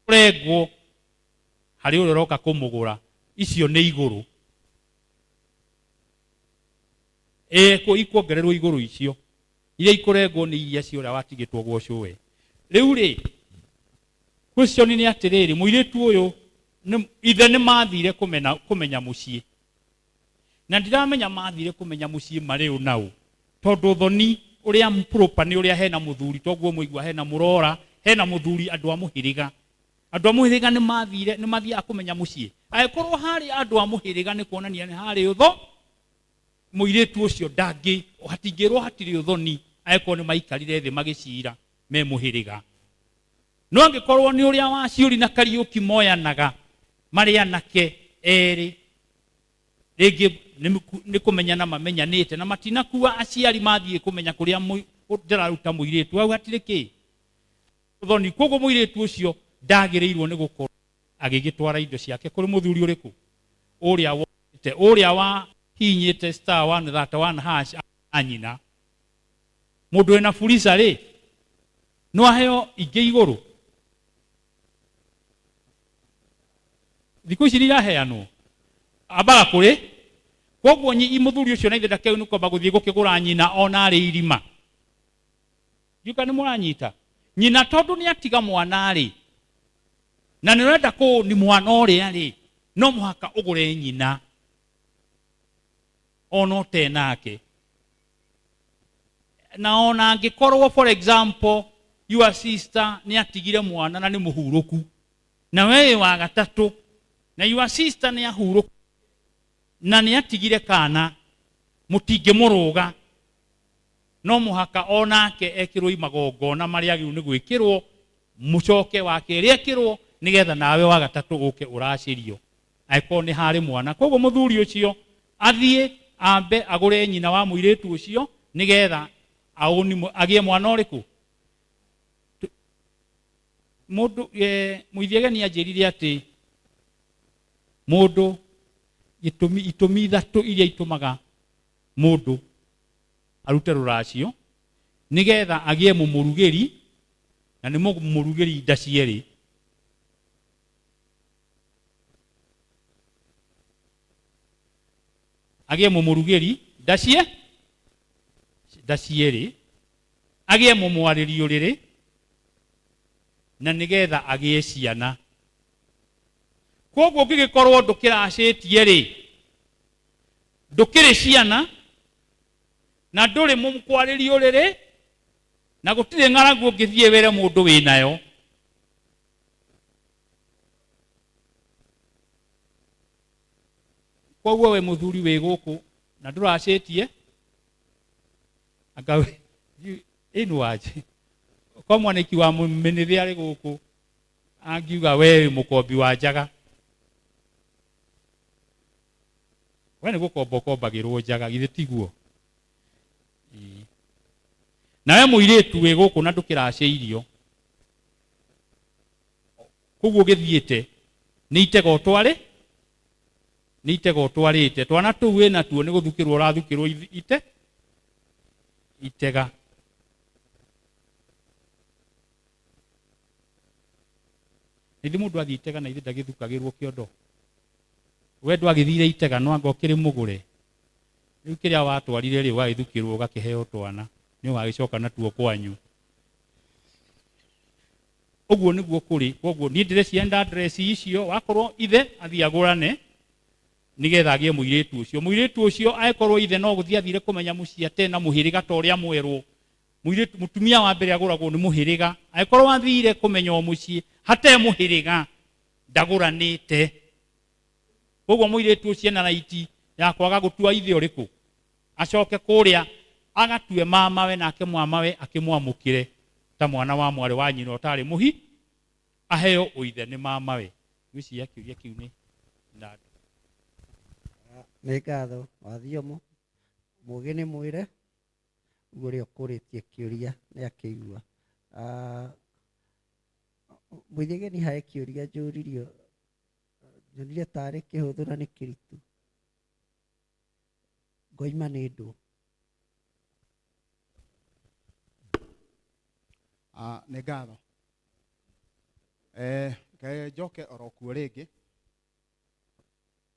kũrengwo harĩ ũrĩa ũroka kũmũgũra icio nĩ igũrũ e, ikuongererwo igũrũ icio iria ikũrengwo nĩ iria cia ũrĩa watigĩtwo gwocwo we rĩu rĩ question nĩ atĩrĩrĩ mũirĩtu ũyũ ithe nĩ mathire kũmenya mũciĩ na ndiramenya mathire kumenya mucii mari u na u tondu thoni uria mpropa ni uria hena muthuri toguo muigua hena murora hena muthuri andu a muhiriga andu a muhiriga ni mathire ni mathiaga kumenya mucii agikorwo hari andu a muhiriga ni kuonania ni hari utho muiritu ucio ndangi hatingirwo hatiri uthoni agikorwo ni maikarire thi magicira me muhiriga no angĩkorwo nĩ ũrĩa wa ciũri na kariũki moyanaga marĩ anake erĩ rĩngĩ nĩ ku- nĩ kũmenyana mamenyanĩte na matinakua aciari mathiĩ kũmenya kũrĩa mũi- ũ- ndĩraruta mũirĩtu hau hatirĩ kĩ ũthoni koguo mũirĩtu ũcio ndagĩrĩirwo nĩ gũkorwo agĩgĩtwara indo ciake kũrĩ mũthuri ũrĩkũ ũrĩa wonete ũrĩa wahinyĩte star one thata one hash na nyina mũndũ wĩna furisa rĩ no aheo ingĩ igũrũ thikũ ici nĩiraheanwo ambaga kũrĩ koguo nyi mũthuri ũcio na ithe ndakeũ nĩ kwamba gũthiĩ gũkĩgũra nyina ona arĩ irima ndiuka nĩ mũranyita nyina tondũ nĩ atiga mwana rĩ na nĩ ũrenda kũ nĩ mwana ũrĩa rĩ no mũhaka ũgũre nyina ona ũtenake na ona angĩkorwo for example your sister nĩ atigire mwana na nĩ mũhurũku na we wĩ wa gatatũ na your sister nĩ ahurũku na nĩ atigire kana mũtingĩmũrũga no mũhaka o nake ekĩrwo imagongona marĩa agĩrĩirwo nĩ gwĩkĩrwo mũcoke wa kerĩ ekĩrwo nĩgetha nawe wa gatatũ ũke ũracĩrio angĩkorwo nĩ harĩ mwana koguo mũthuri ũcio athiĩ ambe agũre nyina wa mũirĩtu ũcio nĩgetha aũni- agĩe mwana ũrĩkũ Tu- mũndũ eh, mũithiageni anjĩrire atĩ mũndũ gĩtũmi itũmi ithatũ iria itũmaga mũndũ arute rũracio nĩgetha agĩe mũmũrugĩri na nĩ mũmũrugĩri nda cierĩ agĩe mũmũrugĩri ndacie ndacierĩ agĩe mũmwarĩrio rĩrĩ na nĩgetha agĩe ciana koguo ũngĩgĩkorwo ndũkĩracĩtie rĩ ndũkĩrĩ ciana na ndũrĩ mũmkwarĩrio rĩrĩ na gũtirĩ ng'aragu ũngĩthiĩ wĩre mũndũ wĩ nayo koguo we muthuri wĩ gũkũ na ndũracĩtie anga we- you- ĩnu waje ko mwaniki wa mũmĩnĩthĩ arĩ gũkũ angiuga we wĩ mũkombi wa njaga we nĩ gũkomba ũkombagĩrwo njaga githĩ tiguo Ĩĩ. nawe mũirĩtu wĩ gũkũ na ndũkĩracĩirio koguo gĩthiĩte nĩ itega ũtwarĩ nĩ itega ũtwarĩte twana tũu wĩ natuo nĩ gũthukĩrwo ũrathukĩrwo ithi- ite itega na ithe mũndũ athiĩ itega na ithe ndagĩthukagĩrwo kĩondo we ndwagĩthire itega no anga ũkĩrĩ mũgũre rĩu kĩrĩa watwarire rĩ ũgagĩthukĩrwo ũgakĩheo twana nĩ ũgagĩcoka natuo kwanyu ũguo nĩguo kũrĩ koguo niĩ ndĩrecienda adresi icio wakorwo ithe athiĩ agũrane nĩgetha agĩe mũirĩtu ũcio mũirĩtu ũcio aĩkorwo ithe no gũthiĩ athire kũmenya mũciĩ ate na mũhĩrĩga ta ũrĩa mwerwo mũirĩtu mũtumia wa mbere agũragwo nĩ mũhĩrĩga aĩkorwo athire kũmenya o mũciĩ hate mũhĩrĩga ndagũranĩte koguo mũirĩtu ũcio ena raiti ya kwaga gũtua ithe ũrĩkũ acoke kũrĩa agatue mamawe nake mwamawe akĩmwamũkĩre ta mwana wa mwarĩ wa nyina ũtarĩ mũhi aheo ũithe nĩ mamawe ngwĩciria kĩũria kĩu nĩ na nĩ ngatho wathiomo mũgĩ nĩ mwĩre guo ũrĩa ũkũrĩtie kĩũria nĩ akĩigua mũithigeni harĩ kĩũria njũririo nyonire tarĩ kĩhũthũ na nĩ kĩritũ ngoima nĩ ndũ Ah, nĩ ngatho Eh, ke- njoke oro kuo rĩngĩ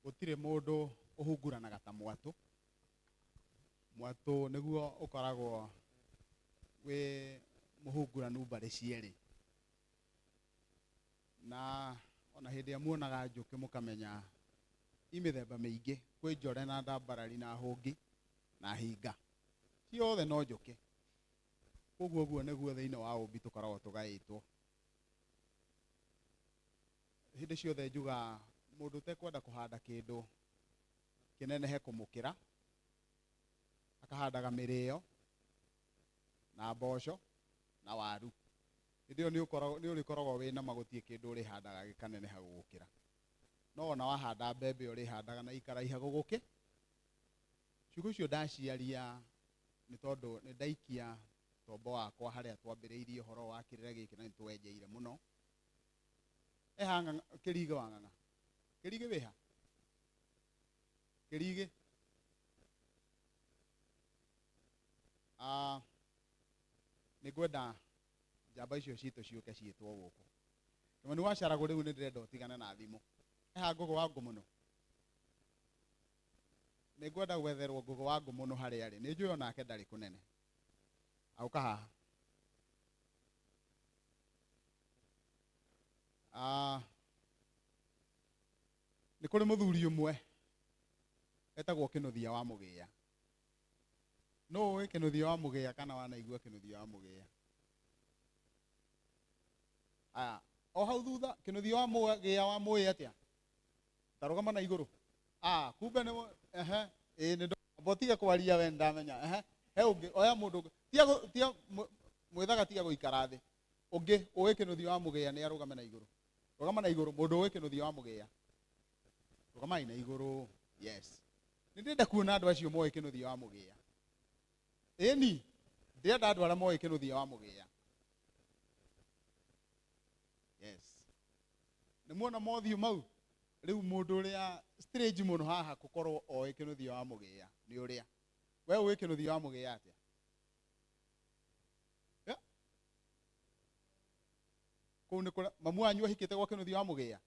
gũtirĩ mũndũ ũhunguranaga ta mwatũ mwatũ nĩguo ũkoragwo wĩ mũhunguranu mbarĩ cierĩ na ona hĩndĩ ĩrĩa muonaga njũkĩ mũkamenya i mĩthemba mĩingĩ kwĩ njore na ndambarari na hũngi na hinga ciothe no njũkĩ koguo ũguo nĩguo thĩinĩ wa ũmbi tũkoragwo tũgaĩtwo hĩndĩ ciothe njuga mũndũ ũtekwenda kũhanda kĩndũ kĩnenehe kũmũkĩra akahandaga mĩrĩo na mboco na waru hĩndĩ ĩyo nĩ ũrĩkoragwo wĩ na ma gũtirĩ kĩndũ ũrĩhandaga gĩkaneneha gũgũkĩra. No ona wahanda mbembe ũrĩhandaga na ikaraiha gũgũkĩ. Ciugo icio ndaciaria nĩ tondũ nĩ ndaikia tombo wakwa harĩa twambĩrĩirie ũhoro wa kĩrĩra gĩkĩ na nĩ twenjeire mũno. Eha kĩrigĩ wa ng'ang'a. Kĩrigĩ wĩha? Kĩrigĩ. Ah, nĩ ngwenda njamba icio citũ ciũke ciĩtwo gũkũ kĩmani wacaragũ rĩu nĩ ndĩrenda ũtigane na thimũ eha ngũgũ wa ngũmũnũ nĩ ngwenda gwetherwo ngũgũ wa ngũmũnũ harĩa arĩ nĩ njũĩ o nake ndarĩ kũnene auka haha Ah, nĩ kũrĩ mũthuri ũmwe etagwo kĩnuthia wa mũgĩya no ũĩ kĩnũthia wa mũgĩa kana wanaigua kĩnũthia wa mũgĩa aya o hau thutha kĩnũthia wa mũgĩa wa mũĩ atĩa tarũgama na igũrũ ah kumbe nĩ mũ- ehe ĩĩ nĩ ndamba ũtige kwaria we ndamenya ehe he ũngĩ oya mũndũ ũngĩ tiga gũ- tiga mũ- mwĩthaga tiga gũikara thĩ ũngĩ ũĩ kĩnũthia wa mũgĩa nĩ arũgame na igũrũ rũgama na igũrũ mũndũ ũĩ kĩnũthia wa mũgĩa rũgamai na igũrũ yes nĩ ndĩrenda kuona andũ acio moĩ kĩnũthia wa mũgĩa ĩni ndĩrenda andũ arĩa moĩ kĩnũthia wa mũgĩa yes nĩ muona mothiũ mau rĩu mũndũ ũrĩa strange mũno haha gũkorwo oĩ kĩnũthia wa mũgĩa nĩ ũrĩa we ũĩ kĩnũthia wa mũgĩa atĩa Yeah. kũu nĩ kũrĩa mamu wanyu ahikĩte gwa kĩnũthia wa mũgĩa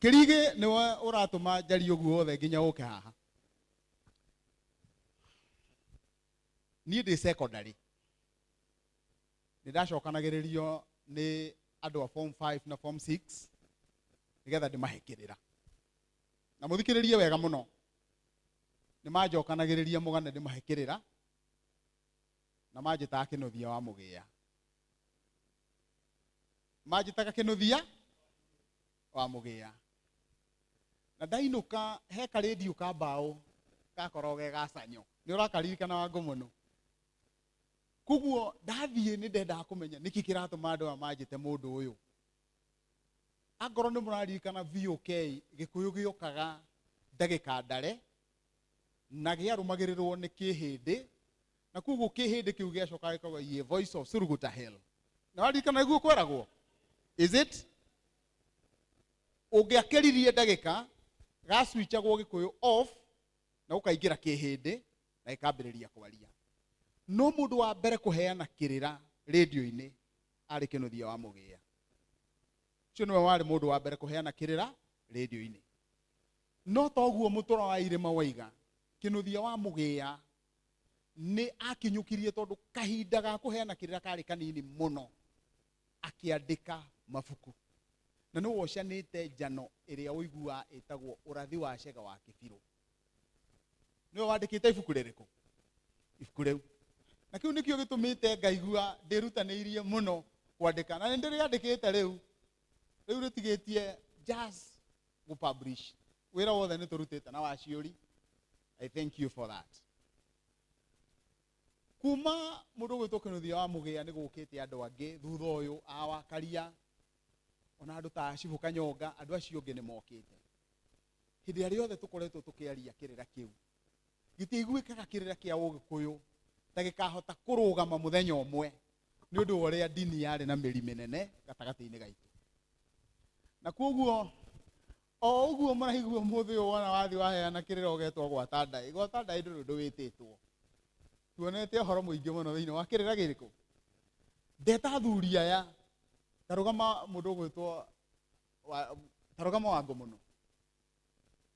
kĩrigĩ nĩwe ũratũma njari ũguo wothe nginya ũke haha niĩ ndĩ secondary nĩ ndacokanagĩrĩrio nĩ andũ a form 5 na form 6 nĩgetha ndĩmahĩkĩrĩra na mũthikĩrĩrie wega mũno nĩ manjokanagĩrĩria mũgane ndĩmahĩkĩrĩra na manjĩtaga kĩnũthia wa mũgĩa manjĩtaga kĩnũthia wa mũgĩa na ndainũka he karĩndiũ ka mbaũ gakoragwo ge gacanyo nĩ ũrakaririkana wa ngũmũnũ koguo ndathiĩ nĩ ndendaga kũmenya nĩkĩ kĩratũma andũ aya manjĩte mũndũ ũyũ angorwo nĩ mũraririkana VOK gĩkũyũ gĩũkaga ndagĩka ndare na gĩarũmagĩrĩrwo nĩ kĩhĩndĩ na koguo kĩhĩndĩ kĩu gĩacoka gĩkauga ye voice of suruguta hell na waririkana nĩguo kweragwo is it ũngĩakĩririe ndagĩka gacwichagwo gĩkũyũ off na ũkaingĩra kĩhĩndĩ na gĩkambĩrĩria kwaria no mũndũ wa mbere kũheana kĩrĩra rĩndiũ-inĩ arĩ kĩnuthia wa mũgĩa ũcio nĩwe warĩ mũndũ wa mbere kũheana kĩrĩra rĩndiũ-inĩ No ta ũguo mũtũra wa irĩma waiga, kĩnũthia wa mũgĩa nĩ akinyũkirie tondũ kahinda ga kũheana kĩrĩra karĩ kanini mũno akĩandĩka mabuku. Na nĩ wocanĩte njano ĩrĩa ũiguaga ĩtagwo ũrathi wa cega wa kĩbirũ. Nĩwe wandĩkĩte ibuku rĩrĩkũ? Ibuku rĩu. Na kĩu nĩkĩo gĩtũmĩte ngaigua ndĩrutanĩirie mũno kwandĩka. Na nĩ ndĩrĩandĩkĩte rĩu, rĩu rĩtigĩtie just gu publish wira wothe ni turutite na wa ciuri i thank you for that kuma mundu gwitwo kinuthia wa mugia ni gukite andu angi thutha uyu awakaria ona andu ta cibu kanyonga andu acio ngi ni mokite hindi ya riothe tukoretwo tukiaria kirira kiu gitiiguikaga kirira kia ugikuyu ta gikahota kurugama muthenya umwe nĩ ũndũ wa ũrĩa ndini yarĩ na mĩri mĩnene gatagatĩ-inĩ gaitũ na kwoguo o ũguo mũraigua mũthĩ ũyũ wona wathi waheana kĩrĩra ũgetwo gwata ndaĩ gwata ndaĩ ndũrĩ ũndũ wĩtĩtwo tuonete ũhoro mũingĩ mũno thĩinĩ wa kĩrĩra gĩkũ ndeta athuri aya tarũgama mũndũ ũgwĩtwo wa- tarũgama wango mũno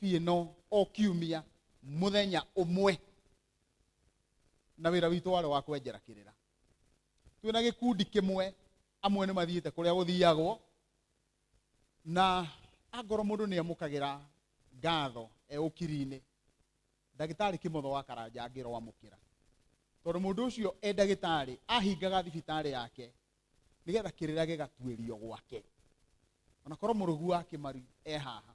biĩ no o kiumia mũthenya ũmwe na wĩra witũ warĩ wa kwenjera kĩrĩra twĩ na gĩkundi kĩmwe amwe nĩ mathiĩte kũrĩa gũthiagwo na angorwo mũndũ nĩ amũkagĩra ngatho e ũkiri-inĩ ndagĩtarĩ kĩmotho wa karanja angĩrwo amũkĩra tondũ mũndũ ũcio e ndagĩtarĩ ahingaga thibitarĩ yake nĩgetha kĩrĩra gĩgatuĩrio gwake onakorwo mũrũgu wa kĩmaru e haha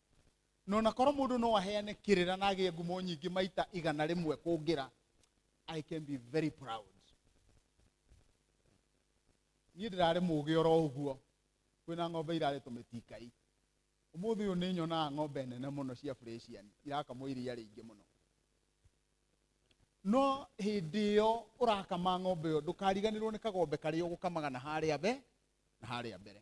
na ona korwo mũndũ no aheane kĩrĩra na agĩe ngumo nyingĩ maita igana rĩmwe kũngĩra i can be very proud niĩ ndĩrarĩ mũgĩ oro ũguo kwĩna ng'ombe irarĩ tũmĩtingai ũmũthĩ ũyũ nĩ nyonaga ng'ombe nene mũno cia fresian irakamwo iria rĩingĩ mũno no hĩndĩ ĩyo ũrakama ng'ombe ĩyo ndũkariganĩrwo nĩ kagombe karĩa ũgũkamaga na harĩa be na harĩa mbere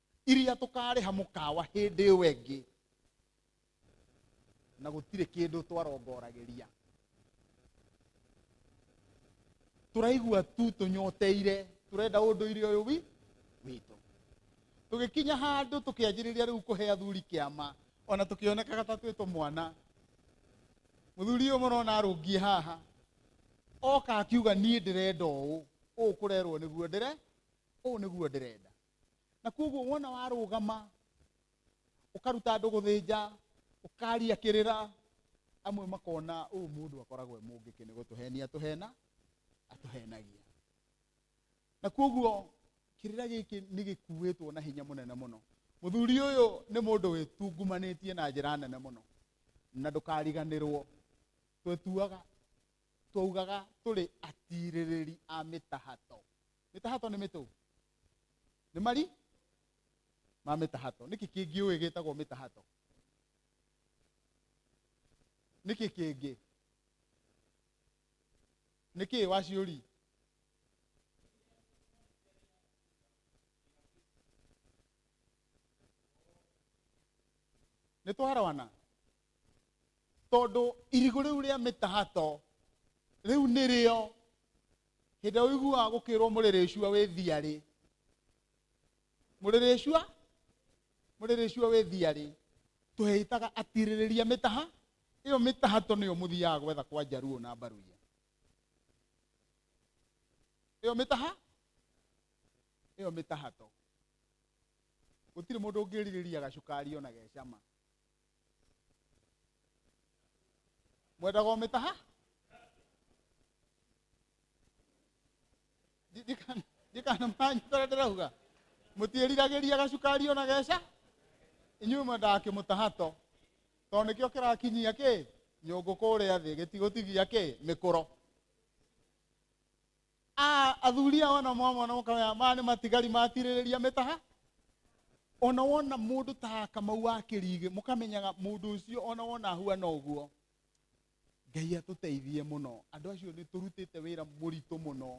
iria tũkarĩha mũkawa hĩndĩ ĩyo ĩngĩ na gũtirĩ kĩndũ twarongoragĩria tũraigua tu tũnyoteire tũrenda ũndũire ũyũ wi witũ tũgĩkinya handũ tũkĩanjĩrĩria rĩu kũhe athuri kĩama ona tũkĩonekaga ta twĩtwo mwana mũthuri ũyũ mũrona arũngie haha oka akiuga niĩ ndĩrenda ũũ ũũ kũrerwo nĩguo ndĩre ũũ nĩguo ndĩrenda na koguo wona warũgama ũkaruta andũ gũthĩnja ũkaria kĩrĩra amwe makona ũyũ mũndũ akoragwo e mũngĩkĩ nĩ gũtũhenia tũhena atũhenagia na koguo kĩrĩra gĩkĩ nĩ gĩkuĩtwo na hinya mũnene mũno mũthuri ũyũ nĩ mũndũ wĩtungumanĩtie na njĩra nene mũno na ndũkariganĩrwo twetuaga twaugaga tũrĩ atirĩrĩri a mĩtahato mĩtahato nĩ mĩtũ nĩ mari ma mĩtahato nĩkĩ kĩngĩ ũĩ gĩtagwo mĩtahato nĩkĩ kĩngĩ nĩkĩ waciũri nĩ twarawana tondũ irigũ rĩu rĩa mĩtahato rĩu nĩrĩo hĩndĩ ũiguaga gũkĩrwo mũrĩrĩcua wĩ thiarĩ mũrĩrĩcua mũrĩrĩcua wĩ thiarĩ tũheitaga atirĩrĩria mĩtaha ĩyo mĩtaha to nĩyo mũthiaga gwetha kwa njaruo na mbaruya ĩyo mĩtaha ĩyo mĩtaha to gũtirĩ mũndũ ũngĩrirĩria gacukari ona gecama mwenda gomĩtaha ndikanamanyu tara ndĩrauga mũtiĩriragĩria gacukari ona geca inyuĩ mwendaga kĩmũtaha to tondũ nĩkĩo kĩrakinyia kĩ nyũngũ kũrĩa thĩ gĩtigũtigia kĩ mĩkũro Ah, athuri ao ona mwamona mũkamenya maya nĩ matigari matirĩrĩria mĩtaha ona wona mũndũ ta kamau wa kĩrigĩ mũkamenyaga mũndũ ũcio ona wona ahuana ũguo ngai atũteithie mũno andũ acio nĩ tũrutĩte wĩra mũritũ mũno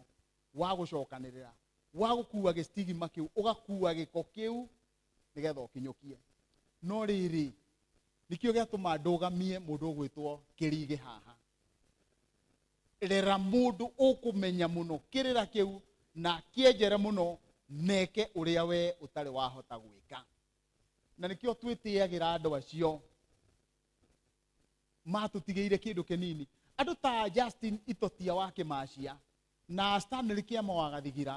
wa gũcokanĩrĩra wa gũkua gĩstigima kĩu ũgakua gĩko kĩu nĩgetha ũkinyũkie no rĩrĩ nĩkĩo gĩatũma ndũgamie mũndũ ũgwĩtwo kĩrigĩ haha Rera mũndũ ũkũmenya mũno kĩrĩra kĩu na akĩenjere mũno na eke ũrĩa we ũtarĩ wahota gwĩka na nĩkĩo twĩtĩagĩra andũ acio matũtigĩire kĩndũ kĩnini andũ ta justin itotia wa kĩmacia na stanley kĩama wa gathigira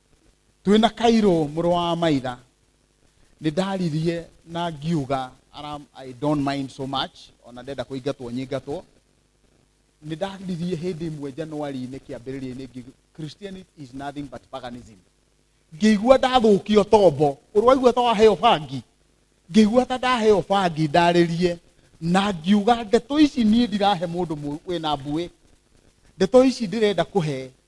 twĩ na kairũ mũrũ wa maitha nĩ ndaririe na ngiuga "Aram, i don't mind so much ona ndenda kũingatwo nyingatwo nĩ ndaririe hĩndĩ ĩmwe januari-inĩ kĩambĩrĩria-inĩ ngi- christianity is nothing but paganism ngĩigua ndathũkio tombo ũrwaigua ta waheo bangi ngĩigua ta ndaheo bangi ndarĩrie na ngiuga ndeto ici niĩ ndirahe mũndũ mũ- wĩna mbuĩ ndeto ici ndĩrenda kũhe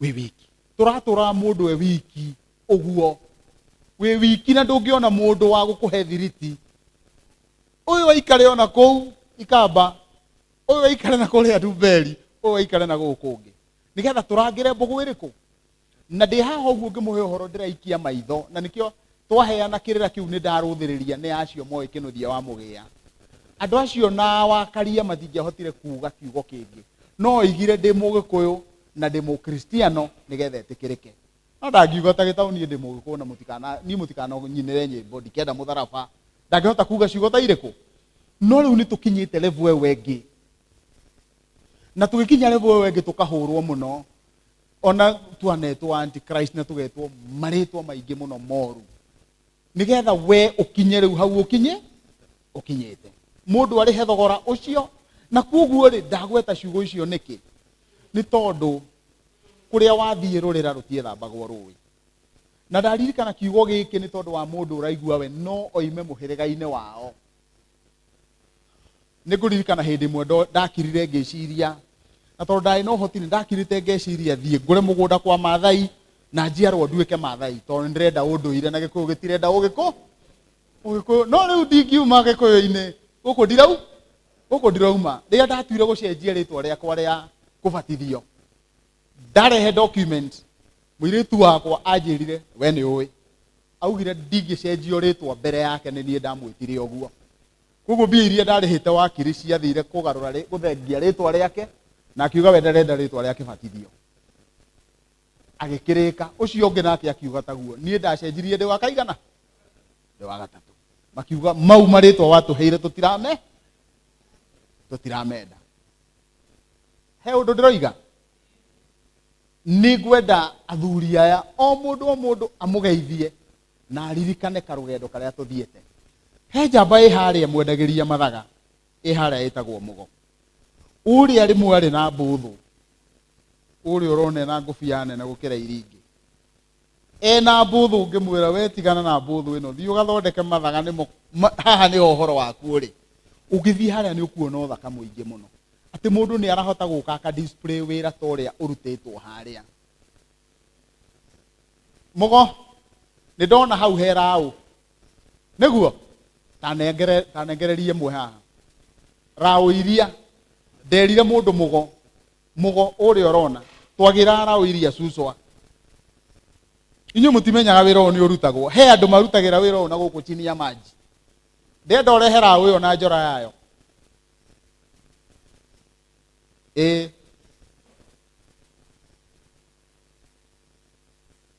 wĩ wiki tũratũraga mũndũ e wiki ũguo wĩ wiki na ndũngĩona mũndũ wa gũkũhe thiriti ũyũ aikare ona kũu ikamba ũyũ aikare na kũrĩa nduberi ũyũ aikare na gũkũ ũngĩ nĩgetha tũrangĩre mbũgũ ĩrĩkũ na ndĩ haha ũguo ngĩmũhe ũhoro ndĩraikia maitho na nĩkĩo twaheana kĩrĩra kĩu nĩ ndarũthĩrĩria nĩ acio moĩ kĩnũthia wa mũgĩa andũ acio na wakaria matingĩahotire kuuga kiugo kĩngĩ no oigire ndĩ mũgĩkũyũ na ndĩ mũkristiano nĩgetha etĩkĩrĩke no ndangiuga ta gĩtaũ niĩ ndĩ mũgĩkũyũ na mũtikana niĩ mũtikananyinĩre nyĩmbo ndikenda mũtharaba ndangĩhota kuga ciugo ta irĩkũ no rĩu nĩ tũkinyĩte levo ĩyo ĩngĩ na tũgĩkinya levo ĩyo ĩngĩ tũkahũrwo mũno ona twanetwo antichrist na tũgetwo marĩtwa maingĩ mũno moru nĩgetha we ũkinye rĩu hau ũkinye ũkinyĩte mũndũ arĩhe thogora ũcio na kuoguo rĩ ndagweta ciugo icio nĩkĩ nĩ tondũ kũrĩa wathiĩ rũrĩra rũtiethambagwo rũĩ na ndaririkana kiugo gĩkĩ nĩ tondũ wa mũndũ ũraigua we no oime mũhĩrĩga-inĩ wao nĩ ngũririkana hĩndĩ ĩmwe ndo- ndakirire ngĩciria na tondũ ndarĩ na ũhoti nĩ ndakirĩte ngeciria thiĩ ngũre mũgũnda kwa mathai na njiarwo nduĩke mathai tondũ nĩ ndĩrenda ũndũire na gĩkũyũ gĩtirenda ũgĩkũ ũgĩkũyũ no rĩu ndingiuma gĩkũyũ-inĩ gũkũ ndirau gũkũ ndĩrauma rĩrĩa ndatuire gũcenjia rĩtwa rĩakwa rĩa kũbatithio ndarehe document mũirĩtu wakwa anjĩrire we nĩ ũĩ augire ndingĩcenjio rĩtwa mbere yake nĩ niĩ ndamwĩtire ũguo koguo mbia iria ndarĩhĩte wakiri ciathire kũgarũra rĩ- gũthengia rĩtwa rĩake na akiuga we ndarenda rĩtwa rĩake batithio agĩkĩrĩka ũcio ũngĩ nake akiuga taguo niĩ ndacenjirie ndĩ wa kaigana ndĩ wa gatatũ makiuga mau marĩtwa watũheire tũtirame tũtiramenda he ũndũ ndĩroiga nĩ ngwenda athuri aya o mũndũ o mũndũ amũgeithie na aririkane karũgendo karĩa tũthiĩte he njamba ĩ harĩa mwendagĩria mathaga ĩ harĩa ĩtagwo mũgo ũrĩa rĩmwe arĩ na mbũthũ ũrĩa ũronena ngũbia nene gũkĩra iria ingĩ ena mbũthũ ngĩmwĩra we tigana na mbũthũ ĩno thiĩ ũgathondeke mathaga nĩmo ma- haha nĩho ũhoro waku ũrĩ ũgĩthiĩ harĩa nĩ ũkuona ũthaka mũingĩ mũno atĩ mũndũ nĩ arahota gũka aka display wĩra ta ũrĩa ũrutĩtwo harĩa mũgo nĩ ndona hau he raũ nĩguo ndanengere- ndanengererie mwe haha raũ iria nderire mũndũ mũgo mũgo ũrĩa ũrona twagĩra raũ iria cucwa inyuĩ mũtimenyaga wĩra ũyũ nĩ ũrutagwo he andũ marutagĩra wĩra ũyũ na gũkũ chini ya maji ndenda ũrehe raũ ĩyo na njora yayo ĩĩ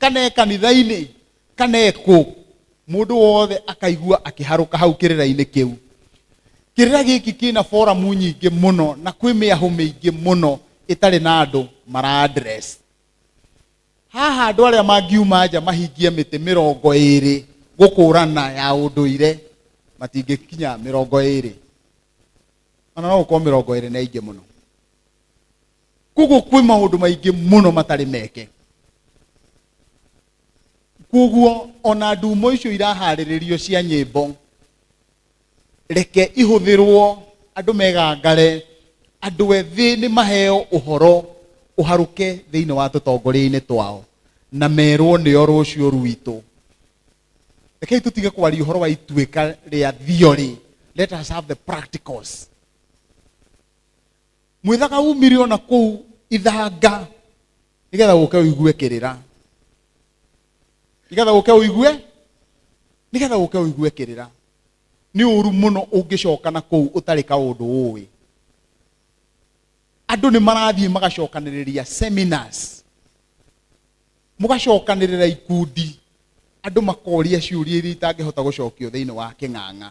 kana e kanitha-inĩ kana ekũ mũndũ wothe akaigua akĩharũka hau kĩrĩra-inĩ kĩu kĩrĩra gĩkĩ kĩna foramu nyingĩ mũno na kwĩ mĩahũ mĩingĩ mũno ĩtarĩ na andũ mara address haha andũ arĩa mangiuma nja mahingie mĩtĩ mĩrongo ĩrĩ gũkũrana ya ũndũire matingĩkinya mĩrongo ĩrĩ ona no gũkorwo mĩrongo ĩrĩ na ingĩ mũno koguo kwĩ maũndũ maingĩ mũno matarĩ meke koguo ona ndumo icio iraharĩrĩrio cia nyĩmbo reke ihũthĩrwo andũ megangare andũ ethĩ nĩ maheo ũhoro ũharũke thĩinĩ wa tũtongoria-inĩ twao na merwo nĩo rũciũ rwitũ rekei tũtige kwaria ũhoro wa ituĩka rĩa theory let us have the practicals mwĩthaga umire ona kũu ithanga nĩgetha ũke ũigue kĩrĩra nĩgetha ũke ũigue nĩgetha ũke ũigue kĩrĩra nĩ ũru mũno ũngĩcoka na kũu ũtarĩ kaũndũ ũĩ andũ nĩ marathiĩ magacokanĩrĩria seminars mũgacokanĩrĩra ikundi andũ makoria ciũria iria itangĩhota gũcokio thĩinĩ wa kĩng'ang'a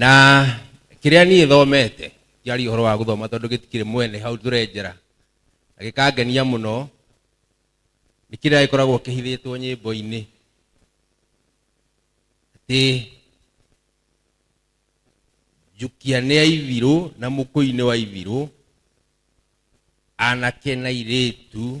na kĩrĩa niĩ thomete njaria ũhoro wa gũthoma tondũ gĩtikĩrĩ mwene hau tũrenjera na gĩkangenia mũno nĩ kĩrĩa gĩkoragwo kĩhithĩtwo nyĩmbo-inĩ atĩ njukia nĩ aibirũ na mũkũi nĩ wa ibirũ anake na irĩtu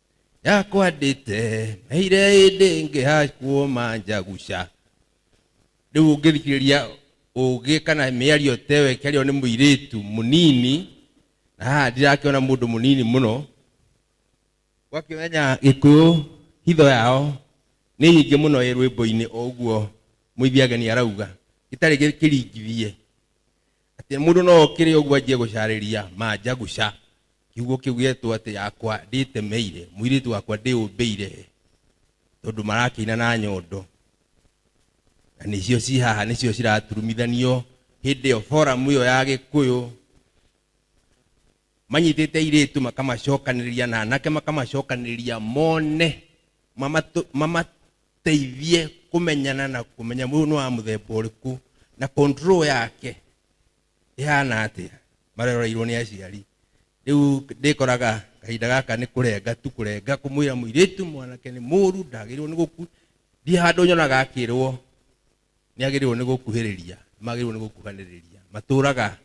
yakwandĩte meire ĩndĩ ngĩhakwo manjaguca rĩu ũngĩthikĩrĩria ũgĩ kana mĩario teyo ĩkĩario nĩ mũirĩtu mũnini na haha ndirakĩona mũndũ mũnini mũno ũgakĩmenya gĩkũyũ hitho yao nĩ nyingĩ mũno ĩ rwĩmbo-inĩ o ũguo mũithiageni arauga gĩtarĩ gĩkĩringithie Atĩ mũndũ no okĩre ũguo anjie gũcarĩria Manjaguca, kiugo kĩu gĩetwo atĩ yakwa ndĩtemeire, mũirĩtu wakwa ndĩũmbĩire, tondũ marakĩina na nyondo. Na nĩcio ci haha nĩcio ciraturumithanio hĩndĩ ĩyo foramu ĩyo ya Gĩkũyũ. manyitĩte airĩtu makamacokanĩrĩria na anake makamacokanĩrĩria mone mamatũ- mamateithie kũmenyana na kũmenya mũndũ nĩ wa mũthemba ũrĩkũ na control yake ĩhana atĩa maroreirwo nĩ aciari rĩu ndĩkoraga kahinda gaka nĩ kũrenga tu kũrenga kũmwĩra mũirĩtu mwanake nĩ mũru ndagĩrĩirwo nĩ gũku ndi handũ nyonaga akĩrwo nĩ agĩrĩirwo nĩ gũkuhĩrĩria magĩrĩirwo nĩ gũkuhanĩrĩria matũraga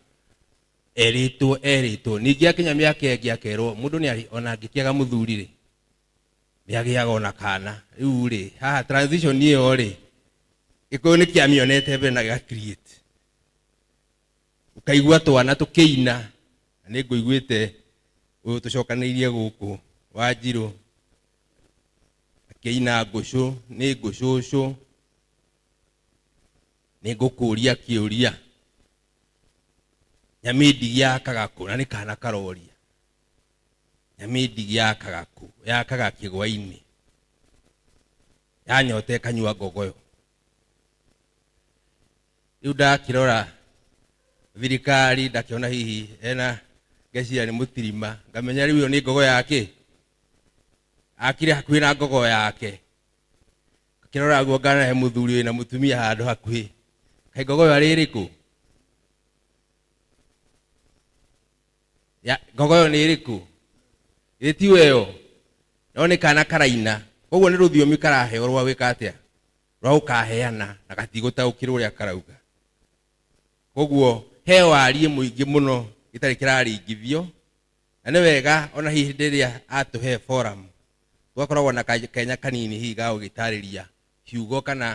erĩtwo erĩtwo ningĩ akinya mĩaka ĩngĩ akerwo mũndũ nĩ arĩ ona angĩkĩaga mũthuri rĩ nĩ agĩaga ona kana rĩu rĩ haha transition ĩyo rĩ gĩkũyũ nĩ kĩamĩonete mbere na gĩga create ũkaigua twana tũkĩina na nĩ ngũiguĩte ũyũ tũcokanĩirie gũkũ wa njirũ akĩina ngũcũ nĩ ngũcũcũ nĩ ngũkũria kĩũria nyamĩndigi ya kagakũ na nĩ kana karoria nyamĩndigi ya kagakũ ya kagakĩgwa-inĩ yanyota ĩkanyua ngogoyo rĩu ndakĩrora thirikari ndakĩona hihi ena ngeciria nĩ mũtirima ngamenya rĩu ĩyo nĩ ngogo yake akire hakuhĩ na ngogo yake akĩrora guo ngana he mũthuri ũyũ na mũtumia handũ hakuhĩ kaĩ ngogo ĩyo arĩ ĩrĩkũ Ya- ngogo ĩyo nĩ ĩrĩkũ ĩ tiyo ĩyo no nĩ kana karaina koguo nĩ rũthiomi karaheo rwa gwĩka atĩa rwa gũkaheana na gatigũtaũkĩrwo ũrĩa karauga koguo he wariĩ mũingĩ mũno gĩtarĩ kĩraringithio na nĩ wega ona hihi hĩndĩ ĩrĩa atũhe forum gũgakoragwo na ka- kanya kanini hihi ga gũgĩtarĩria kiugo kana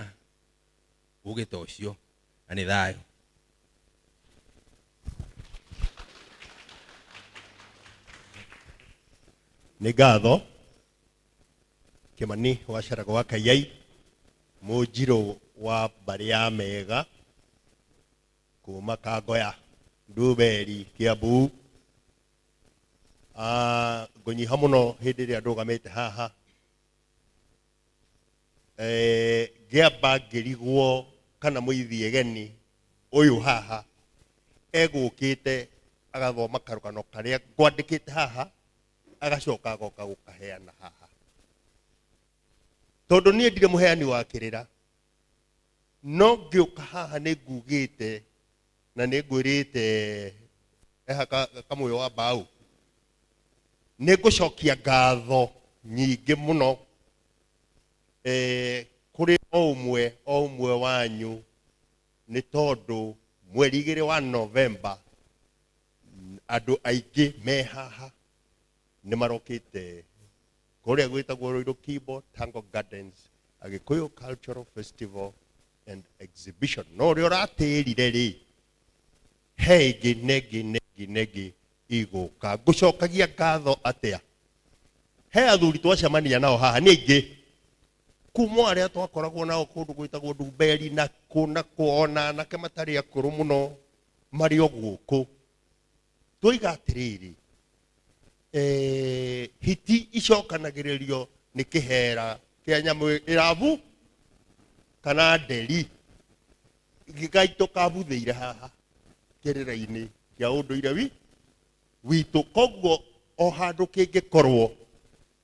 ũgĩ ta ũcio na nĩ thayũ nĩ ngatho kĩmani wacaraga wa kaiai mũnjirũ wa mbarĩ ya mega kuma kangoya nduberi kiambu Ah, ngũnyiha mũno hĩndĩ ĩrĩa ndũgamĩte haha Eh, ngĩamba ngĩrigwo kana mũithie geni ũyũ haha egũkĩte agathoma karũgano karĩa ngwandĩkĩte haha agacoka agoka gũkaheana haha tondũ niĩ ndirĩ mũheani wa kĩrĩra no ngĩũka haha nĩ ngugĩte na nĩ ngwĩrĩte eha ka- kamũyo wa mbaũ nĩ ngũcokia ngatho nyingĩ mũno eh, kũrĩ o ũmwe o ũmwe wanyu nĩ tondũ mweri igĩrĩ wa novemba andũ aingĩ me haha nĩ marokĩte kũrĩa gwĩtagwo Ruiru Kibo Tango Gardens Agĩkũyũ Cultural Festival and Exhibition no ũrĩa ũratĩrire rĩ he ĩngĩ na ĩngĩ na ĩngĩ na ĩngĩ igũka ngũcokagia ngatho atĩa he athuri twacemania nao haha nĩ aingĩ kuma arĩa twakoragwo nao kũndũ gwĩtagwo ndumberi na kũ na kũ ona anake matarĩ akũrũ mũno marĩ o gũkũ twoiga atĩrĩrĩ eh, hiti icokanagĩrĩrio nĩ kĩhera kĩa nyamũ ĩrabu kana nderi gĩgaitũ kabuthĩire haha kĩrĩra-inĩ kĩa ũndũire wi witũ koguo o handũ kĩngĩkorwo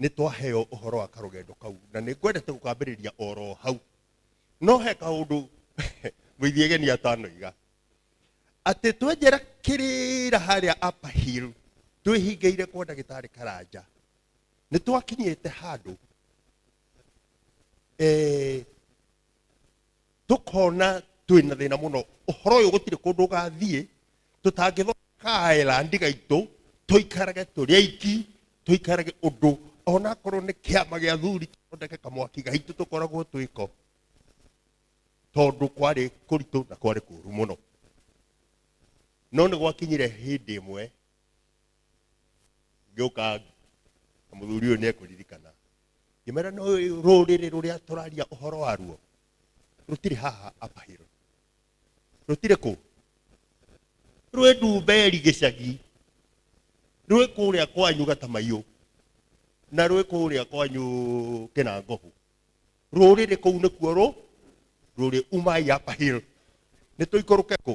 nĩ twaheo ũhoro wa karũgendo kau na nĩ ngwendete gũkambĩrĩria oro hau no he kaũndũ mũithiegeni atanoiga atĩ twenjera kĩrĩra harĩa upper hill twĩhingĩire kwa ndagĩtarĩ karanja nĩ twakinyĩte handũ eh, tukona twina thina muno uhoro uyu gutire kundu ugathie tutangithokaela ndiga itu tuikarage turi aiki tuikarage undu ona korwo ni kiama gia thuri tuthondeke kamwaki gaitu tukoragwo twiko tondu kwari kuritu na kwari kuru muno no nä gwakinyire hä ndä ä mwe ngĩũka na mũthuri ũyũ nĩekũririkana ngĩmera no rũrĩrĩ rũrĩa tũraria ũhoro waruo rũtirĩ haha apahiro rũtirĩ kũ rwĩ ndumberi gĩcagi rwĩ kũrĩa kwanyu gatamaiyũ na rwĩ kũrĩa kwanyu kĩnangohu rũrĩrĩ kũu nĩkuo rũ rũrĩ umai apahiro nĩ tũikũrũke kũ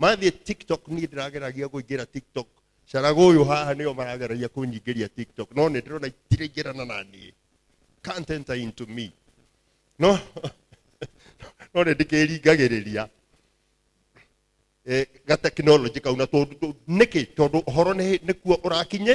mathiĩ tiktok niĩ ndĩrageragia kũingĩra tiktok carago ũyũ haha nĩo marageragia kũnyingĩria tiktok no nĩ ndĩrona itiraingĩrana na niĩ can't enter into me no no nĩ ndĩkĩringagĩrĩria eh, gatekinoronjĩ kau na tondũ tũ- nĩkĩ tondũ ũhoro nĩ- nĩkuo ũrakinye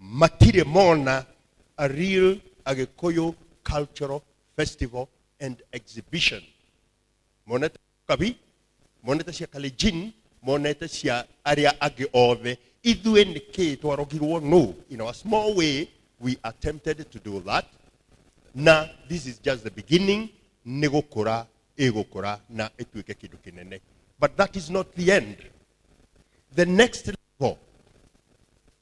matirĩ mona a real agĩkũyũ cultural festival and exhibition monete kabi monete cia kalenjin monete cia arĩa angĩ othe ithuĩ nĩ kĩ twarogirwo no in our small way we attempted to do that na this is just the beginning nĩ gũkũra ĩgũkũra na ĩtuĩke kĩndũ kĩnene but that is not the end the next level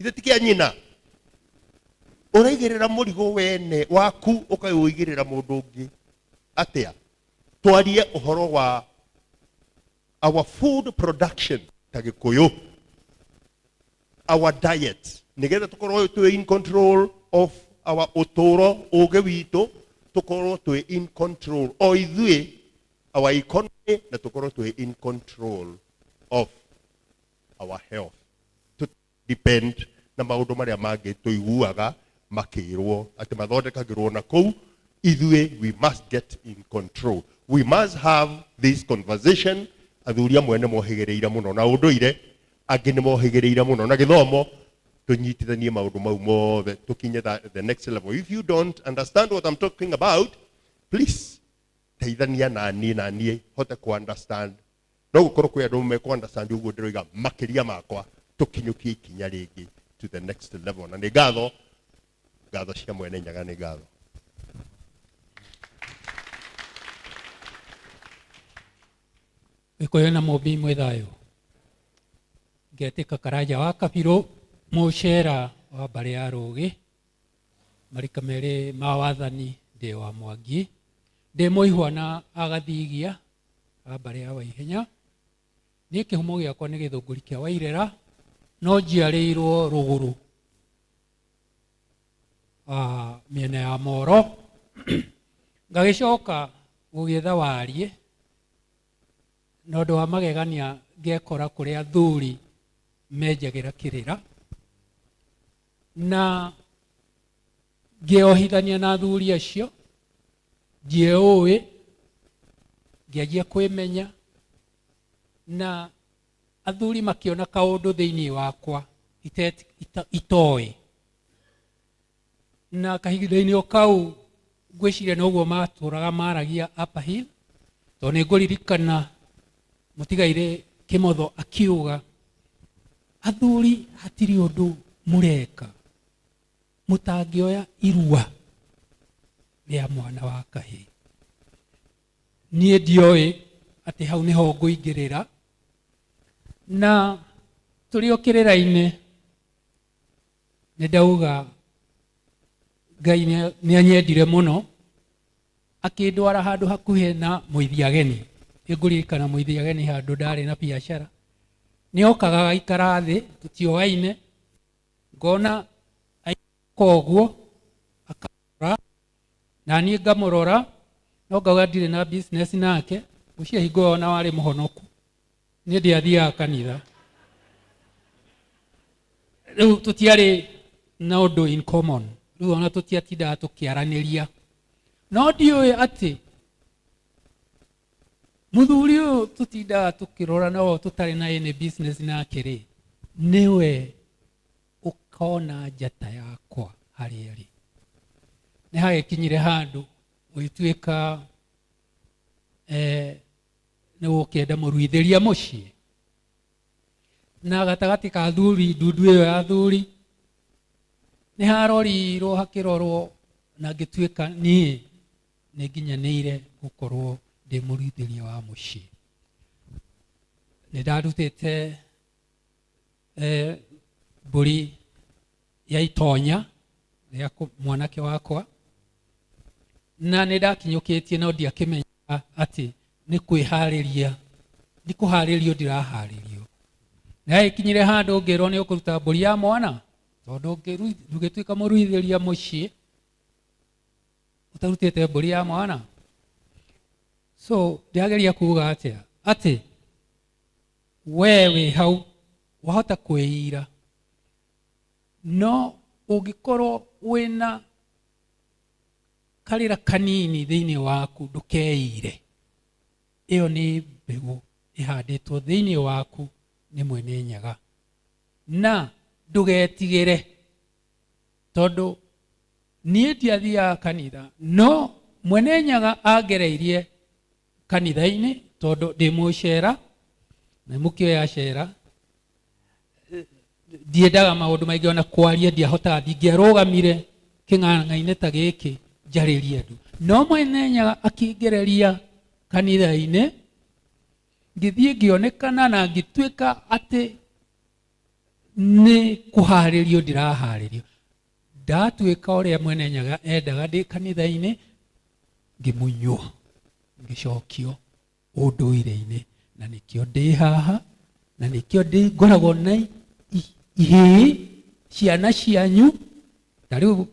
ithe ti kĩa nyina ũraigĩrĩra mũrigo wene waku ũkaũigĩrĩra mũndũ ũngĩ atĩa twarie ũhoro wa our food production ta gĩkũyũ our diet nĩgetha tũkorwo twĩ in control of our ũtũũro ũgĩ witũ tũkorwo twĩ in control o ithuĩ our economy na tũkorwo twĩ in control of our health to depend na maundu maria mangi tuiguaga makirwo ati mathondekagirwo na kuu ithuĩ we must get in control we must have this conversation athuri amwe nĩ mohĩgĩrĩire mũno na ũndũire angĩ nĩ mohĩgĩrĩire mũno na gĩthomo tũnyitithanie maũndũ mau mothe tũkinye tha- the next level if you don't understand what I'm talking about please teithania na niĩ na niĩ hote kũ understand no gukorwo kwi andu me understand uguo ndiroiga makiria makwa tukinyukie ikinya ringi to the next level na ni ngatho ngatho cia mwene nyaga ni ngatho gikuyu na mumbi mwĩ thayũ ngetĩka karanja wa kabirũ mũcera wa mbarĩ ya rũgĩ marika merĩ ma wathani ndĩ wa mwangi ndĩ mũihwa na agathigia a mbarĩ ya waihenya niĩ kĩhumo gĩakwa nĩ gĩthũngũri kĩa wairera no njiarĩirwo rũgũrũ ah, mĩena ya moro ngagĩcoka gũgĩetha wariĩ na ũndũ wa magegania ngekora kũrĩa athuri menjagĩra kĩrĩra na ngĩohithania na athuri acio ngĩũĩ ngĩanjia kwĩmenya na athuri makĩona kaũndũ thĩinĩ wakwa itet- ita- itoĩ na kahinda-inĩ o kau ngwĩciria noguo matũraga maragia Upper Hill tondũ nĩ ngũririkana mũtigairĩ kĩmotho akiuga athuri hatirĩ ũndũ mũreka mũtangĩoya irua rĩa mwana wa kahĩ niĩ ndioĩ atĩ hau nĩho ngũingĩrĩra na tũrĩ o kĩrĩra-inĩ nĩ ndauga ngai nĩ anyendire mũno akĩndwara handũ hakuhĩ na mũithi ageni nĩ ngũririkana mũithi ageni handũ ndarĩ na biacara nĩ okaga agaikara thĩ tũtioaine Ngoona aikaraga o ũguo, akandora, na niĩ ngamũrora, no ngauga ndirĩ na business nake, ũcio hingo ĩyo o na warĩ mũhonoku, niĩ ndiathiaga kanitha. Rĩu tũtiarĩ na ũndũ in common, rĩu o na tũtiatindaga tũkĩaranĩria. No ndiũĩ atĩ, muthuri ũyũ tũtindaga tũkĩrora no tũtarĩ na any business nake rĩ nĩwe ũkona njata yakwa harĩa rĩ nĩ hagĩkinyire handũ ũgĩtuĩka eh, nĩ gũkĩenda mũruithĩria mũciĩ na gatagatĩ ka thuri ndundu ĩyo ya thuri nĩ harorirwo hakĩrorwo na ngĩtuĩka niĩ nĩ nginyanĩire gũkorwo ndĩ mũrutithania wa mũciĩ nĩ ndarutĩte eh, mbũri ya itonya rĩa kũ- mwanake wakwa na nĩ ndakinyũkĩtie no ndiakĩmenyaga atĩ nĩ kwĩharĩria nĩ kũharĩrio ndiraharĩrio na ĩkinyire handũ ngĩrwo nĩ ũkũruta mbũri ya mwana tondũ ngĩru- ndũgĩtuĩka mũruithĩria mũciĩ utarutite mburi ya mwana so ndiageria kuga atia ati we wi hau wahota kwiyira no ungikorwo wina karira kanini thiini waku ndukeyire iyo ni mbegu ihanditwo thiini waku ni mwene nyaga na ndugetigire tondũ niĩ ndiathiaga kanitha no mwene nyaga angereirie kanitha-inĩ tondũ ndĩ mũcera na mũkĩoya cera ndiendaga maũndũ maingĩ ona kwaria ndiahotaga ndingĩarũgamire kĩng'ang'a-inĩ ta gĩkĩ njarĩrie andũ no mwene nyaga akĩngereria kanitha-inĩ ngĩthiĩ ngĩonekana na ngĩtuĩka atĩ nĩ kũharĩrio ndĩraharĩrio ndatuĩka ũrĩa mwene nyaga endaga ndĩ kanitha-inĩ ngĩmunywo ngĩcokio ũndũire-inĩ na nĩkĩo ndĩ haha na nĩkĩo ndĩ ngoragwo na ihĩĩ ciana cianyu na rĩu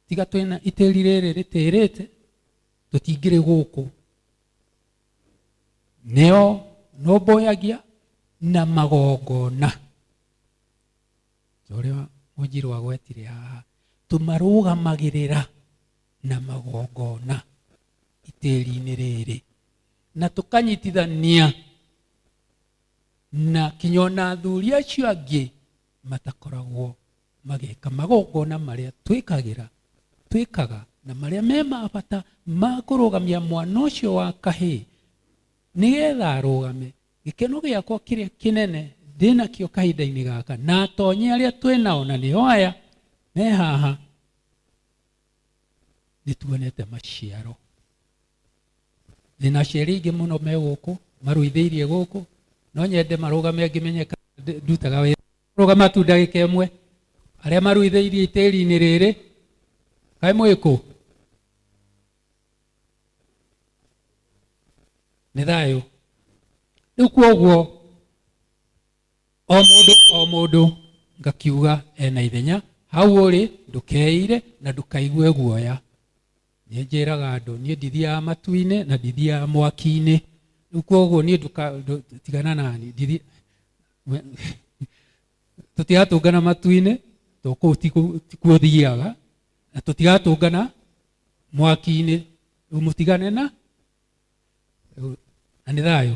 tiga twĩna itĩri rĩrĩ rĩtĩrĩte tũtingĩrĩ gũkũ nĩo nũmbũyagia na magongona ũrĩa mũnjirũ agwetire haha tũmarũgamagĩrĩra na magongona itĩri-inĩ rĩrĩ na tũkanyitithania na kinya ona athuri acio angĩ matakoragwo magĩka magongona marĩa twĩkagĩra twĩkaga na marĩa me ma bata ma kũrũgamia mwana ũcio wa kahĩĩ nĩgetha arũgame gĩkeno gĩakwa kĩrĩa kĩnene ndĩnakĩo kahinda-inĩ gaka na atonye arĩa twĩ nao na nĩo aya me haha nĩ tuonete maciaro thina cieri ingĩ muno me gũkũ maruithĩirie gũkũ no nyende marũgame ngĩmenyeka ndutaga wĩra rũgama tu ndagĩka ĩmwe arĩa maruithĩirie itĩri-inĩ rĩrĩ kaĩ mwĩkũ nĩ thayũ rĩu kuoguo o mũndũ o mũndũ ngakiuga ena ithenya hau ũrĩ ndũkeire na ndũkaigue guoya nĩ njĩraga andũ niĩ ndithiaga matu-inĩ na ndithiaga mwaki-inĩ rĩu koguo niĩ ndũka- ndũ- tigana nani ndithi- tũtigatũngana matu-inĩ to kũu ti kũ- ti kuo thiaga na tũtigatũngana mwaki-inĩ rĩu mũtigane na rĩu- na nĩ thayũ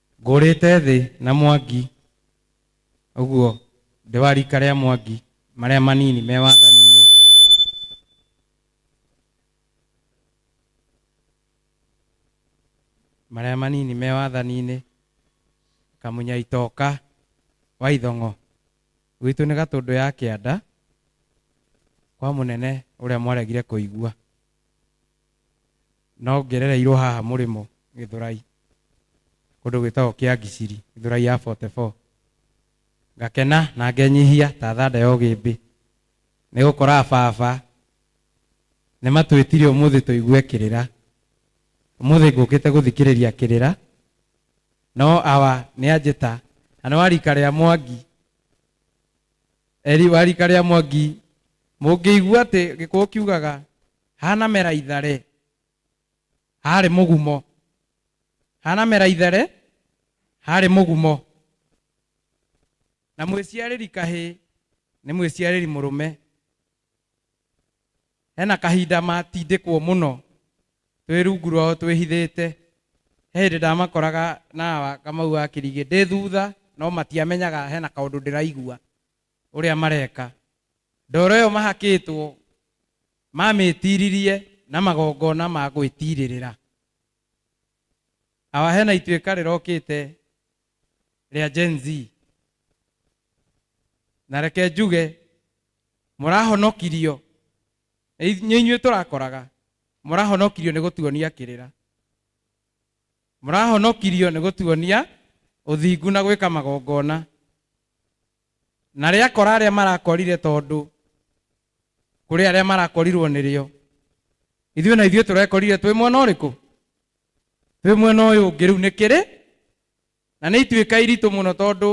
Ngũrĩte thĩ na Mwangi ũguo ndĩ wa rika rĩa Mwangi marĩa manini me wathani-inĩ. Marĩa manini me wathani-inĩ Kamunya Itoka wa Ithong'o. Gwitũ nĩ Gatũndũ ya Kĩanda kwa mũnene ũrĩa mwaregire kũigua. No ngerereirwo haha Mũrĩmo Gĩthũrai, kũndũ gwĩtagwo Kĩangiciri, Gĩthũrai ya 44. Ngakena na ngenyihia ta thanda ya ũgĩmbĩ, nĩ gũkora ababa nĩ matwĩtire ũmũthĩ tũigue kĩrĩra. Ũmũthĩ ngũkĩte gũthikĩrĩria kĩrĩra, no awa nĩ a njĩta, na nĩ wa rika rĩa Mwangi, wa rika rĩa Mwangi, mũngĩigua atĩ Gĩkũyũ kiugaga, Hanamera itharĩ. Harĩ mũgumo. Hanamera itherĩ. Harĩ mũgumo. Na mwĩciarĩri kahĩ nĩ mwĩciarĩri mũrũme. Hena kahinda matindĩkwo mũno twĩ rungu rwao twĩhithĩte. He hĩndĩ ndamakoraga na Kamau wa Kĩrigĩ ndĩ thutha no matiamenyaga hena kaũndũ ndĩraigua. ũrĩa mareka. Ndoro ĩyo mahakĩtwo mamĩtiririe na magongona ma gwĩtirĩrĩra. Hawa hena ituĩka rĩrokĩte rĩa Gen Z. Na reke njuge mũrahonokirio nĩ inyuĩ tũrakoraga mũrahonokirio nĩ gũtuonia kĩrĩra mũrahonokirio nĩ gũtuonia ũthingu na gwĩka magongona na rĩakora arĩa marakorire tondũ kũrĩ arĩa marakorirwo nĩrĩo ithuĩ na ithuĩ tũrekorire twĩ mwena ũrĩkũ twĩ mwena ũyũ ũngĩ rĩu nĩkĩrĩ na nĩ ituĩka iritũ mũno tondũ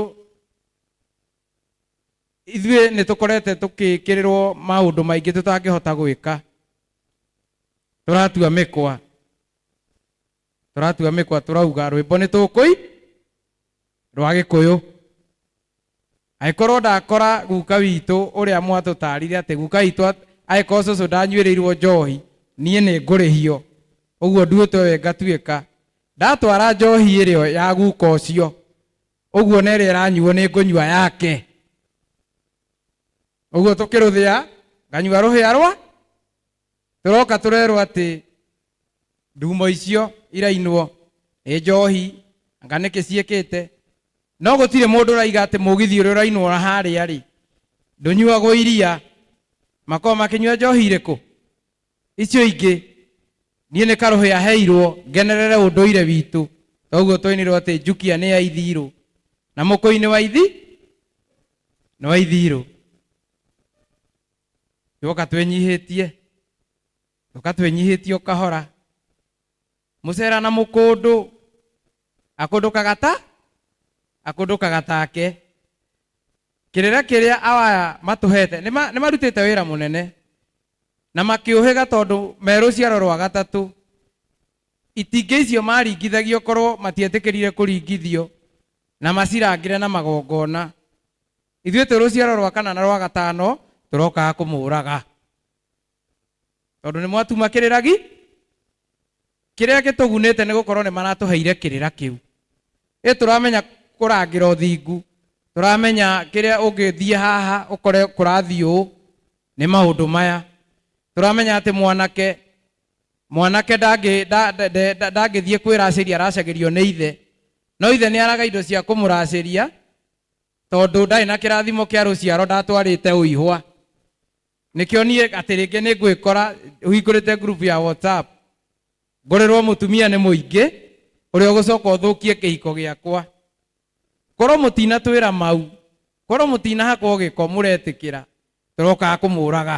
ithuĩ nĩ tũkorete tũkĩkĩrĩrwo maũndũ maingĩ tũtangĩhota gwĩka tũratua mĩkwa tũratua mĩkwa tũrauga rwĩmbo nĩ tũkũi rwa gĩkũyũ agĩkorwo ndakora guka witũ ũrĩa mwatũtarire atĩ guka witũ at- agĩkorwo cũcũ ndanyuĩrĩirwo njohi niĩ nĩ ngũrĩhio ũguo nduĩtwo we ngatuĩka ndatwara njohi ĩrĩo ya guka ũcio ũguo na ĩrĩa ĩranyuo nĩ ngũnyua yake ũguo tũkĩrũthĩa nganyua rũhĩa rwa tũroka tũrerwo atĩ ndumo icio irainwo nĩ njohi anga nĩkĩ ciĩkĩte no gũtirĩ mũndũ ũraiga atĩ mũgithi ũrĩa ũrainwo na harĩa rĩ ndũnyuagwo iria makorwo makĩnyua njohi irĩkũ icio ingĩ niĩ nĩ karũhĩ aheirwo ngenerere ũndũire witũ toguo twainirwo atĩ njukia nĩ ya ithirũ na mũkũi nĩ wa ithi nĩ wa ithirũ twoka twenyihĩtie twoka twenyihĩtie ũkahora mũcera na mũkũndũ akũndũkaga ta akũndũkaga take kĩrĩra kĩrĩa awaya matũhete nĩ ma- nĩ marutĩte wĩra mũnene na makĩũhĩga tondũ me rũciaro rwa gatatũ itingĩ icio maringithagio korwo matietĩkĩrire kũringithio na macirangĩre na magongona Ithuĩ twĩ rũciaro rwa kana na rwa gatano tũrokaga kũmũũraga, tondũ nĩ mwatuma kĩrĩra gi, kĩrĩa gĩtũgunĩte nĩ gũkorwo nĩ maratũheire kĩrĩra kĩu. Ĩ tũramenya kũrangĩra ũthingu, tũramenya kĩrĩa ũngĩthiĩ haha ũkore kũrathiĩ ũũ, nĩ maũndũ maya. Tũramenya atĩ mwanake, mwanake ndangĩ, nda, nda, nda, nda, ndangĩthiĩ kwĩracĩria aracagĩrio nĩ ithe, no ithe nĩ araga indo cia kũmũracĩria, tondũ ndarĩ na kĩrathimo kĩa rũciaro ndatwarĩte ũihwa nĩkĩo niĩ atĩ rĩngĩ nĩ ngwĩkora hingũrĩte ngurubu ya whatsapp ngorerwo mũtumia nĩ mũingĩ ũrĩa ũgũcoka ũthũkie kĩhiko gĩakwa korwo mũtinatwĩra mau korwo mũtinahakwo gĩko mũretĩkĩra tũrokaga kũmũraga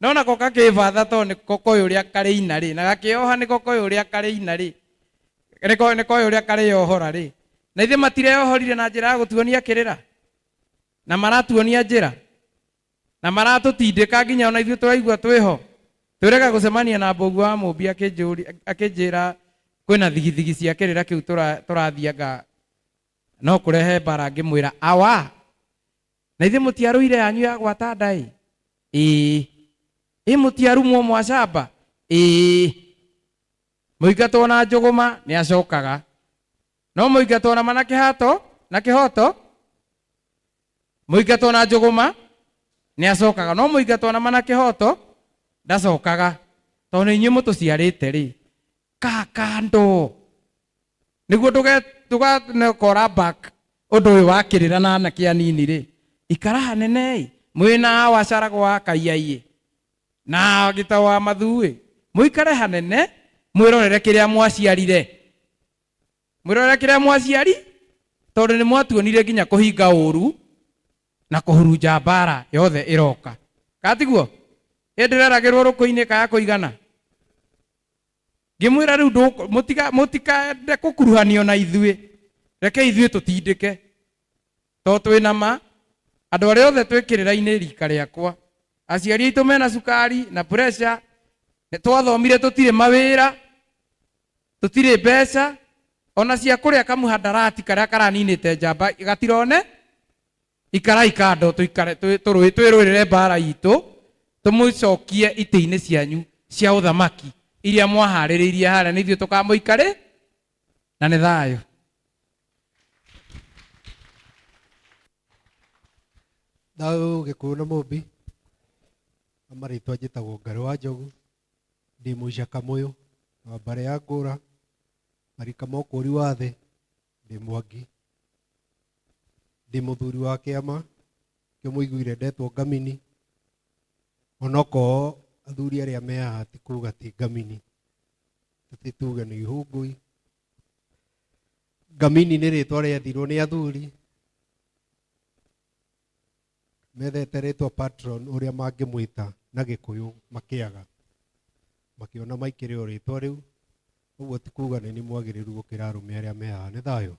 no nako gakĩĩbatha tondũ nĩ ko koĩ ũrĩa karĩ ina rĩ na gakĩoha nĩ ko koĩ ũrĩa karĩ ina rĩ nĩ ko- nĩ koĩ ũrĩa karĩyohora rĩ na ithe matireyohorire na njĩra ya gũtuonia kĩrĩra na maratuonia njĩra na maratũtindĩka nginya ona ithuĩ tũraigua twĩho twĩrega gũcemania na mboguo wa mũmbi akĩnjũri- akĩnjĩra kwĩna thigithigi cia kĩrĩra kĩu tũra- tũrathianga no kũrehe mbara ngĩmwĩra awa Na ithe mũtiarũire yanyu ya gwata ndaĩ ĩĩ ĩ mũtiarumwo mwacamba ĩĩ mũingatwo na njũgũma nĩ acokaga no mũingatwo na mana kĩhato na kĩhoto mũingatwo na njũgũma nĩ acokaga no mũingatwo na mana kĩhoto ndacokaga tondũ nĩ inyuĩ mũtũciarĩte rĩ ka kando niguo ndũgakora back ũndũ ũyũ wakĩrĩra na anake anini rĩ ikara hanene-ĩ mwĩna wacaraga wa kaiaiyĩ na gĩta wa mathuĩ mũikare hanene mwĩrorere kĩrĩa mwaciarire mwĩrorere kĩrĩa mwaciari tondũ nĩ mwatuonire nginya kũhinga ũru na kũhurunja mbara yothe ĩroka katiguo ĩndĩreragĩrwo rũkũ-inĩ kaya kũigana ngĩmwĩra rĩu ndũkũ- mũtika- mũtikende kũkuruhanio na ithuĩ reke ithuĩ tũtindĩke tondũ twĩ na ma andũ arĩa othe twĩkĩrĩra-inĩ rika rĩakwa aciari aitũ mena cukari na pressure nĩ twathomire tũtirĩ mawĩra tũtirĩ mbeca ona cia kũrĩa kamũhandarati karĩa karaninĩte njamba gatirone ikarai kando tũikare twĩ- tũrũĩ- twĩrũĩrĩre mbaara itũ tũmũcokie itĩ-inĩ cianyu cia ũthamaki iria mwaharĩrĩirie harĩa nĩ ithuĩ tũkamũikarĩ na nĩ thayũ thayũ gĩkũyũ na mũmbi na marĩtwa njĩtagwo ngarĩ wa njogu ndĩ mũica kamũyũ wa mbarĩ ya ngũra marika mokũri wa thĩ ndĩ mwangi ndĩ mũthuri wa kĩama kĩo mũiguire ndetwo ngamini onokorwo athuri arĩa me haha ti kuga ti ngamini tũtĩ tuge nĩ ihũngũi ngamini nĩ rĩtwa rĩathirwo nĩ athuri methete rĩtwa patron ũrĩa mangĩmwĩta na gĩkũyũ makĩaga makĩona maikĩrĩ o rĩtwa rĩu ũguo ti kuga nĩ nĩ mwagĩrĩru gũkĩra arũme arĩa mehaha nĩ thayũ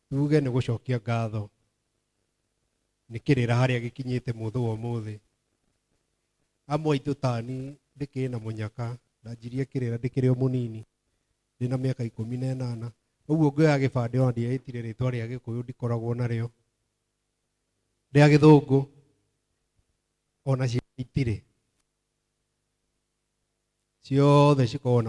tuge nĩ gũcokia ngatho nĩ kĩrĩra harĩa gĩkinyĩte mũthũ wa ũmũthĩ amwe aitũ tani ndĩkĩrĩ na mũnyaka ndanjirie kĩrĩra ndĩkĩrĩ o mũnini ndĩ na mĩaka ikũmi na ĩnana ũguo ngĩoya gĩbandĩ ona ndiaĩtire rĩtwa rĩa gĩkũyũ ndikoragwo narĩo rĩa gĩthũngũ ona ciaitire ciothe cikoragwo na